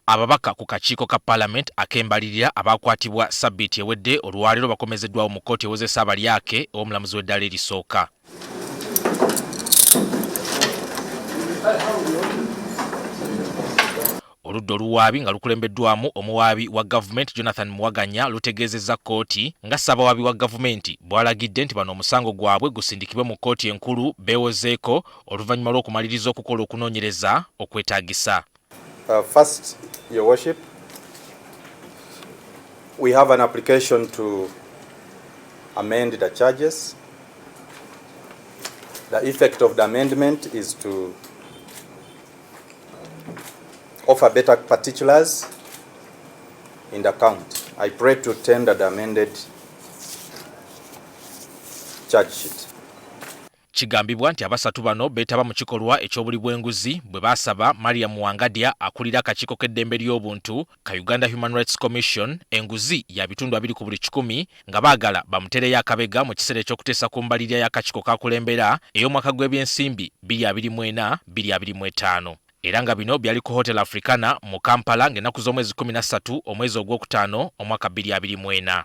Ababaka ku kakiiko ka Parliament akembalirira abaakwatibwa sabbiiti ewedde olwaleero bakomezeddwawo mu kkooti ewozesa abalyake ew'omulamuzi w'eddaala erisooka. oludda oluwaabi nga lukulembeddwamu omuwaabi wa gavumenti jonathan muwaganya lutegeezezza kkooti nga ssabawaabi wa gavumenti bwalagidde nti bano omusango gwabwe gusindikibwe mu kkooti enkulu beewozeeko oluvannyuma lw'okumaliriza okukola okunoonyereza okwetaagisa. Uh, first, your worship, we have an application to amend the charges. The effect of the amendment is to offer better particulars in the count. I pray to tender the amended charge sheet. Kigambibwa nti abasatu bano beetaba mu kikolwa eky'obuli bw'enguzi bwe baasaba Mariam Wangadya akulira akakiiko k'eddembe ly'obuntu ka Uganda Human Rights Commission enguzi ya bitundu abiri ku buli kikumi nga baagala bamuteereyo akabega mu kiseera eky'okuteesa ku mbalirira y'akakiiko k'akulembera ey'omwaka gw'ebyensimbi bbiri abiri mu ena, bbiri abiri mu etaano. Era nga bino byali ku Hotel Africana mu Kampala ng'ennaku z'omwezi kkumi na ssatu omwezi ogwokutaano omwaka bbiri abiri mu ena.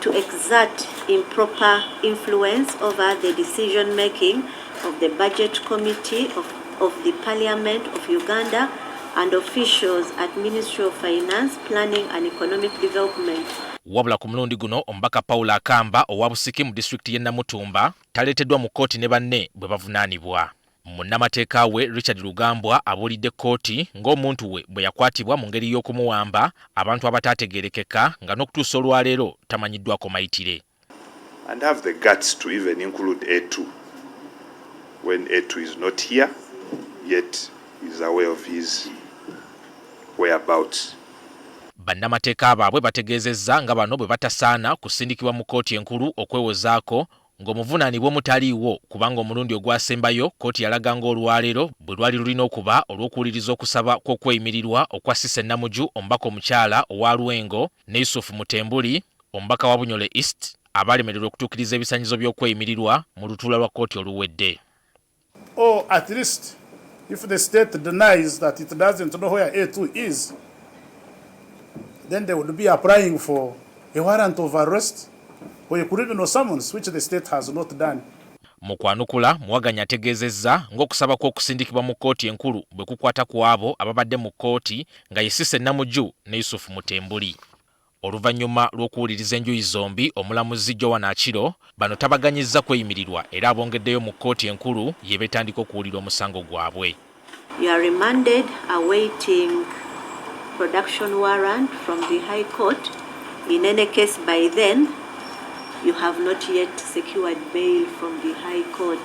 to exert improper influence over the decision making of the budget committee of, of the parliament of Uganda and officials at Ministry of Finance, Planning and Economic Development. Wabula ku mulundi guno omubaka Paul Akamba owa Busiki mu disitulikiti y'e Namutumba taleeteddwa mu kkooti ne banne bwe bavunaanibwa. Munnamateeka we Richard Rugambwa abuulidde kkooti ng'omuntu we bwe yakwatibwa mu ngeri y'okumuwamba abantu abataategeerekeka nga n'okutuusa olwaleero tamanyiddwako mayitire. and have the guts to even include Etu when Etu is not here yet he is aware of his whereabouts. Bannamateeka baabwe bategeezezza nga bano bwe batasaana kusindikibwa mu kkooti enkulu okwewozaako ng'omuvunaanibwa omutaliiwo kubanga omulundi ogwasembayo kkooti yalaga ng'olwaleero bwe lwali lulina okuba olw'okuwuliriza okusaba kw'okweyimirirwa okwa Cissy Namuju omubaka omukyala owa Lwengo ne Yusuf Mutembuli omubaka wa Bunyole East abaalemererwa okutuukiriza ebisanyizo by'okweyimirirwa mu lutuula lwa kkooti oluwedde. Or at least if the state denies that it doesn't know where A2 is, then they would be applying for a warrant of arrest or a criminal summons, which the state has not done. Mu kwanukula, Muwaganya ategeezezza ng'okusaba kw'okusindikibwa mu kkooti enkulu bwe kukwata ku abo ababadde mu kkooti nga ye Cissy Namuju ne Yusuf Mutembuli. Oluvannyuma lw'okuwuliriza enjuyi zombi, omulamuzi Joan Aciro bano tabaganyizza kweyimirirwa era abongeddeyo mu kkooti enkulu yebetandika okuwulira omusango gwabwe. You are remanded awaiting production warrant from the High Court, in any case by then you have not yet secured bail from the High Court.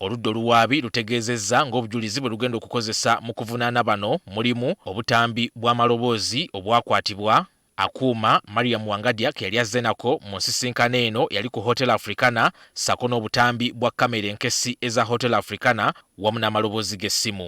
Oludda oluwaabi lutegeezezza ng'obujulizi bwe lugenda okukozesa mu kuvunaana bano mulimu, obutambi bw'amaloboozi obwakwatibwa, akuuma Mariam Wangadya ke yali azze nako mu nsisinkano eno eyali ku Hotel Africana ssaako n'obutambi bwa kkamera enkessi eza Hotel Africana wamu n'amaloboozi g'essimu.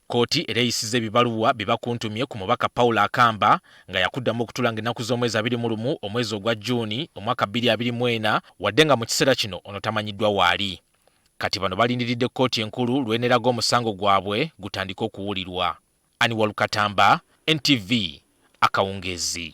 Kkooti era eyisizza ebibaluwa bye bakuntumye ku mubaka Paul Akamba nga yakuddamu okutula nga ennaku z'omwezi abiri mu lumu omwezi ogwa June omwaka bbiri abiri mu ena wadde nga mu kiseera kino ono tamanyiddwa waali. Kati bano balindiridde kkooti enkulu lw'eneraga omusango gwabwe gutandike okuwulirwa. Aniwalu Katamba, NTV, Akawungeezi.